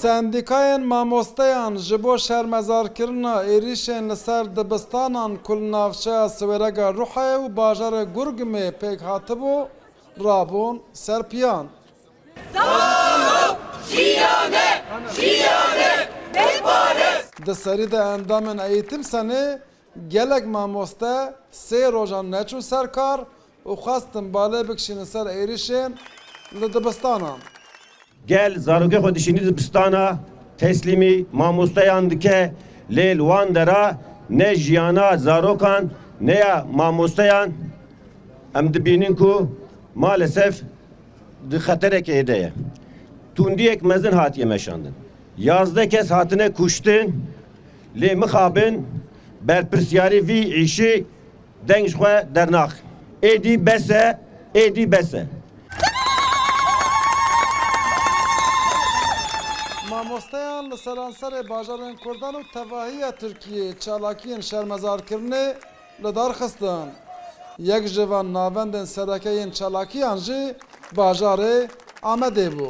Sendîkayên mamosteyan ji bo şermezarkirina êrîşên li ser dibistanan ku li navçeya Siwêrega Ruhayê û bajarê Gurgumê pêk hatibû, rabûn ser piyan. Di serî de endamên Eîtimsenê gelek mamoste sê rojan neçûn ser kar û xwestin balê bikişînin ser êrişê li dibistanan. Gel zarokê xwe dişînî dibistana, teslîmî mamosteyan dike lê li wan dera ne jiyana zarokan ne ya mamosteyan em dibînin ku malesef di xeterekê de ye. Tundiyek mezin hatiye meşandin. Yazdeh kes hatine kuştin lê mixabin berpirsiyarî vî îşî, Deng ji xwe dernax. Êdî bes e, êdî bes e. Mamosteyan li seranserê bajarên Kurdan û tevahiya Tirkiyeyê çalakiyên şermezarkirinê li dar xistin. Yek ji van navendên sereke yên çalakiyan jî bajarê Amedê bû.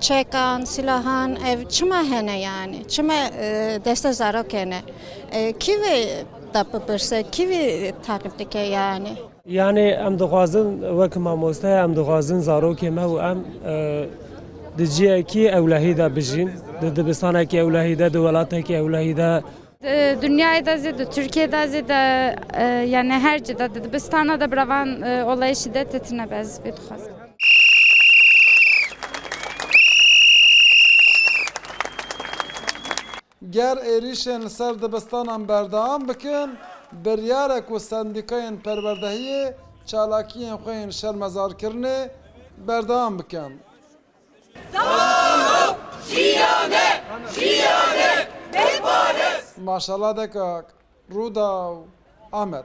Çekan, silahan ev çima hene yani? Çima e, deste zarokê ne? E, kî vê da bipirse, kî vê taqîb dike yani? Yani em dixwazin wek mamoste em dixwazin zarokê me û em e, di ciyekî ewlehî de bijîn, di dibistanekî ewlehî de, di welatekî ewlehî de. Di dinyayê de zî, di Tirkiyeyê de zî de yanî her cî de di dibistana de bi revan olayê şîdetê tine be ez vê dixwazim. Ger êrîşên li ser dibistanan berdewam bikin, biryar e ku sendîkayên perwerdehiyê çalakiyên xwe yên şermezarkirinê berdewam bikin. Maşallah dekak Rûdaw Amed.